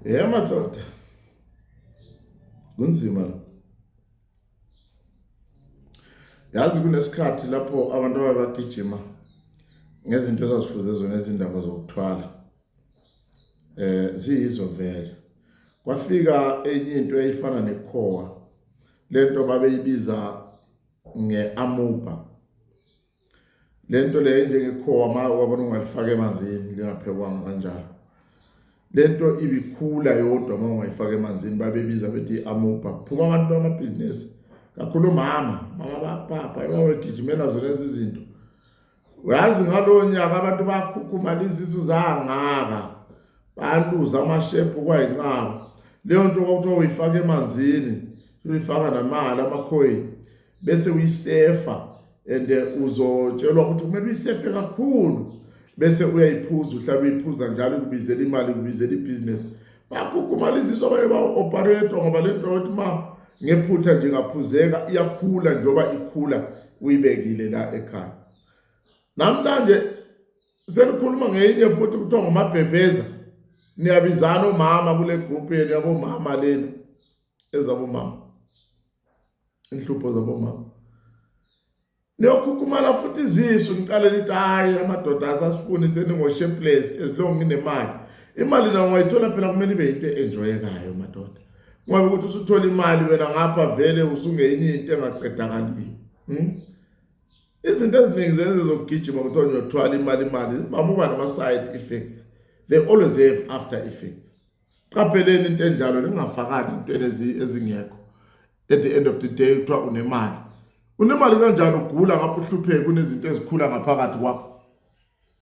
Yhe madoda, kunzima la. Yazi kunesikhathi lapho abantu ababagijima ngezinto ezazifuze zona izindaba zokuthwala eh ziyizo vele kwafika enye into eyifana nekhowa lento babeyibiza ngeamuba lento leyo njengekhowa ma wabona ungalifaka emanzini lingaphekwanga kanjalo lento ibikhula yodwa uma ungayifaka emanzini babebiza bethi i-amoba phuma abantu bamabhizinisi kakhulu mama mama bapapa ebabegijimela zona ezi zinto uyazi ngalowo nyaka abantu bakhukhumala izisu zangaka baluza amashephu kwayinqaba leyo nto kwakuthiwa uyifaka emanzini uyifaka namali amakhoyini bese uyisefa and eh, uzotshelwa ukuthi kumele uyisefe kakhulu bese uyayiphuza uhlala uyiphuza njalo kubizela imali kubizela ibhizinesi bagukhumala iziso abanye ba-operator ngoba le nto yokuthi ma ngephutha nje ngaphuzeka iyakhula njengoba ikhula uyibekile la ekhaya namhlanje senikhuluma ngeyinye futhi kuthiwa ngumabhebheza niyabizana omama kule group yenu yabomama lena ezabomama inhlupho zabomama niyokhukhumala futhi izisu niqale nithi hayi amadoda asasifuni seningoshepless as long nginemali imali nayo ungayithola phela kumele ibe yinto enjoyekayo madoda ngoba ukuthi usuthola imali wena ngapha vele usungeyinye into engaqedakaliyo hmm? izinto eziningi zenze zokugijima kuthiwa ngiyothwala imali imali baba uba nama-side effects they always have after effects qapheleni into enjalo ningafakani intweni ezingekho at the end of the day kuthiwa unemali unemali kanjani ugula ngapha uhlupheke kunezinto ezikhula ngaphakathi kwakho